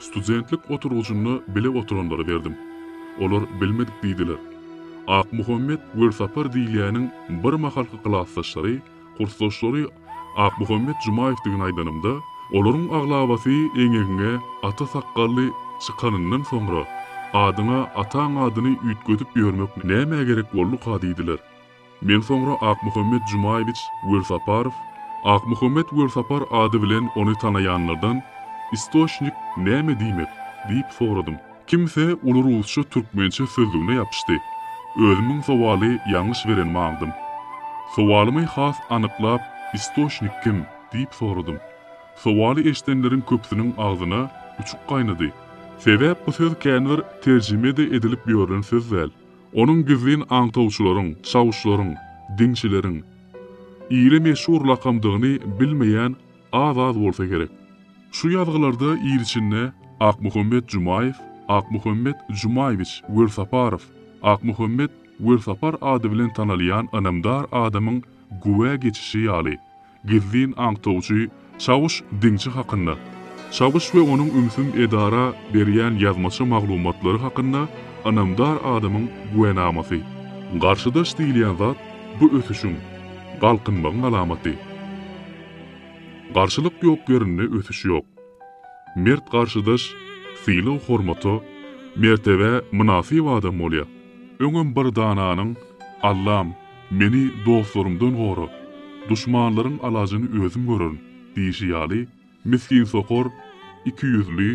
Studentlik oturgyjynda bile oturanlara berdim. Olar bilmedik diýdiler. Akmuhammet Welsapar diýilýäniň birmahalky klasdaşlary, kursdaşlary Akmuhammet Jumaýewdigini aýdanymda, olaryň aglabasy eňegiňe ata sakgally çykanyndan soňra, adyňa ataň adyny üýtgedip ýörmek nämä gerek bolduka diýdiler. Men soňra Akmuhammet Jumaýewiç Welsaparow, Akmuhammet Welsapar ady bilen ony tanaýanlardan, Istoçnik näme diýmek? diýip soradym. Kimse uly rusça-türkmençe sözlügine ýapyşdy. Özümiň sowaly ýalňyş berenimi aňdym. Sowalymy has anyklap, Istoçnik kim? diýip soradym. Sowaly eşidenleriň köpüsiniň agzyna uçuk gaýnady. Sebäp bu söz känbir terjime-de edilip ýörlen söz däl. Onuň gizlin aňtawçylaryň, çawuşlaryň, diňçileriň, ile meşhur lakamdygyny bilmeýän az-az bolsa gerek. Şu ýazgylarda il içinde Akmuhammet Jumaýew, Akmuhammet Jumaýewiç Welsaparow, Akmuhammet Welsapar ady bilen tanalýan ynamdar adamyň güwä geçişi ýaly, Gizlin aňtawçy Çawuş Diňçi hakynda, Çawuş we onuň ümsüm edara berýän ýazmaça maglumatlary hakynda ynamdar adamyň güwenamasy. Garşydaş diýilýän zat bu ösüşiň, galkynmagyň alamaty. Garşylyk ýok ýerinde ösüş ýok. Mert garşydaş sylag-hormata, mertebä mynasyp adam bolýar. Öňem bir dananyň, Allam, Meni dostlarymdan gora, duşmanlaryň alajyny özüm görerin diýşi ýaly, misginsokar, ikiýüzli,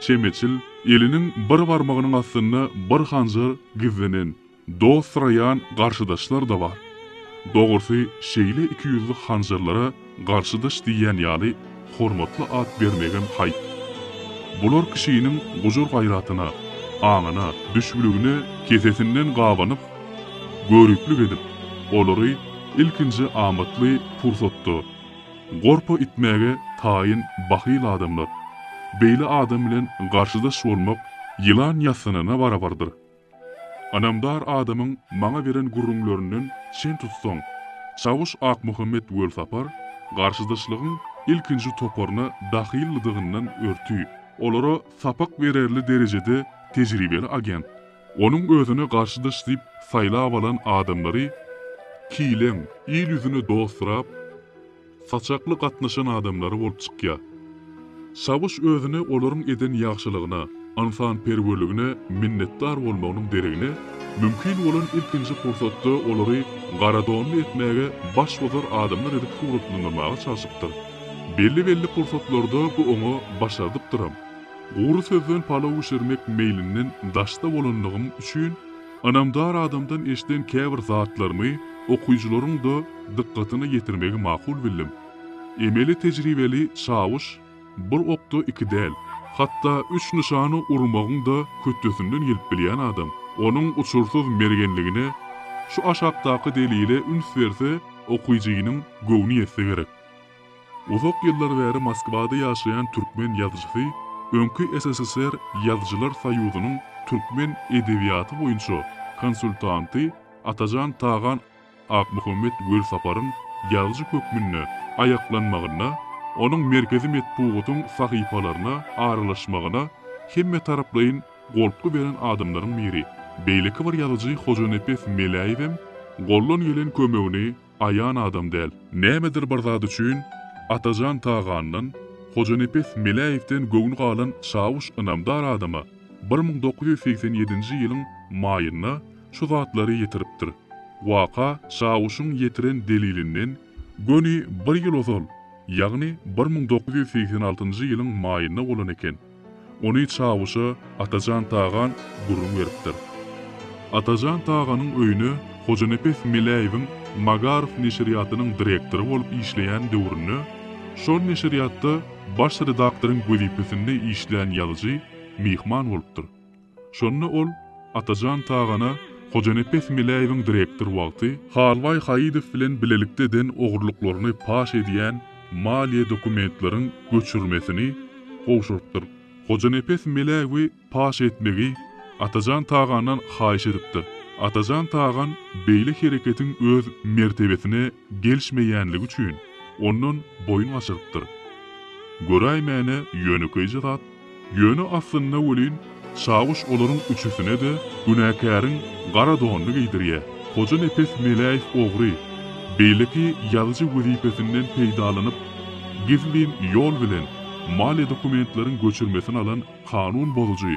çemeçil, eliniň bir barmagynyň astynda bir hanjar gizlenen, dost syraýan garşydaşlar-da bar. Dogrusy, şeýle ikiýüzli hanjarlara Garşydaş diýýän ýaly hormatly at bermegem haýp. Bular kişiniň gujur-gaýratyna, aňyna, düşbüligine kesesinden gabanyp, göriplik edip, olary ilkinji amatly pursatda gorpa itmäge taýyn bahyl adamlar. Beýle adam bilen garşydaş bolmak ýylan ýassanyna barabardyr. Ynamdar adamyň maňa beren gürrüňlerinden çen tutsaň, çawyş Akmuhammet Welsapar garşydaşlygyň ilkinji toparyna dahylydygyndan örti, olara sapak bererli derejede tejribeli agent. Onuň özüne garşydaş diýip saýlap alan adamlary kileň, il ýüzüne dosturap, saçakly gatnaşan adamlary bolup çykýar. Çawyş özüni olaryň eden ýagşylygyna, ynsanperwerligine minnetdar bolmagynyň deregine, mümkin bolan ilkinji pursatda olary garadonly etmäge baş bozar adamlar edip suratlandyrmaga çalşypdyr. Belli-belli pursatlarda bu oňa başardypdyram. Gury sözden palaw bişirmek meýlinden daşda bolanlygym üçin, Ynamdar adamdan eşden käbir zatlarymy okyjylaryň-da dykgatyna ýetirmegi makul bildim. Emeli tejribeli çawuş bir okda iki däl, hatda üç nyşana urmagyň-da hötdesinden gelip bilýän adam. Onuň uçursyz mergenligine şu aşakdaky delile üns berse, okyjynyň göwni ýetse gerek. Uzak ýyllar bäri Moskwada ýaşaýan türkmen ýazyjysy öňki SSSR Ýazyjylar soýuzynyň türkmen edebiýaty boýunça konsultanty Atajan Tagan Akmuhammet Welsaparyň ýazyjy hökmünde aýaklanmagyna, onuň merkezi metbugatyň sahypalaryna aralaşmagyna hemmetaraplaýyn goltgy beren adamlaryň biri. Beýleki bir ýazyjy Hojanepes Meläýewem goldan gelen kömegini aýan adam däl. Nämedir bir zat üçin Atajan Tagandan, Hojanepes Meläýewden göwni galan Çawuş ynamdar adama bir müň dokuz ýüz segsen ýedinji ýylyň maýynda şu zatlary ýetiripdir. Waka Çawuşyň ýetiren delilinden göni bir ýyl ozal, ýagny bir müň dokuz ýüz segsen altynjy ýylyň maýynda bolan eken. Ony Çawuşa Atajan Tagan gürrüň beripdir. Atajan Taganyň öýüne Hojanepes Meläýewiň Magaryf neşirýatynyň direktory bolup işleýän döwründe, şol neşirýatda baş redaktoryň wezipesinde işlän ýazyjy myhman bolupdyr. Şonda ol Atajan Tagana Hojanepes Meläýewiň direktor wagty Halwaý Haýydow bilen bilelikde eden ogurlyklaryny paş edýän maliýe dokumentleriň göçürmesini gowşurypdyr. Hojanepes Meläýewi paş etmegi Atajan Tagandan haýyş edipdir. Atajan Tagan beýle hereketiň öz mertebesine Gelişmeýänligi üçin, ondan boýun gaçyrypdyr. Göräýmäne ýönekeýje zat, ýöne aslynda welin, Çawuş olaryň üçüsine-de günäkäriň gara donuny geýdirýär. Hojanepes Meläýew ogry, beýleki ýazyjy wezipesinden peýdalanyp, gizlin ýol bilen maliýe dokumentleriň göçürmesini alan kanun bozujy,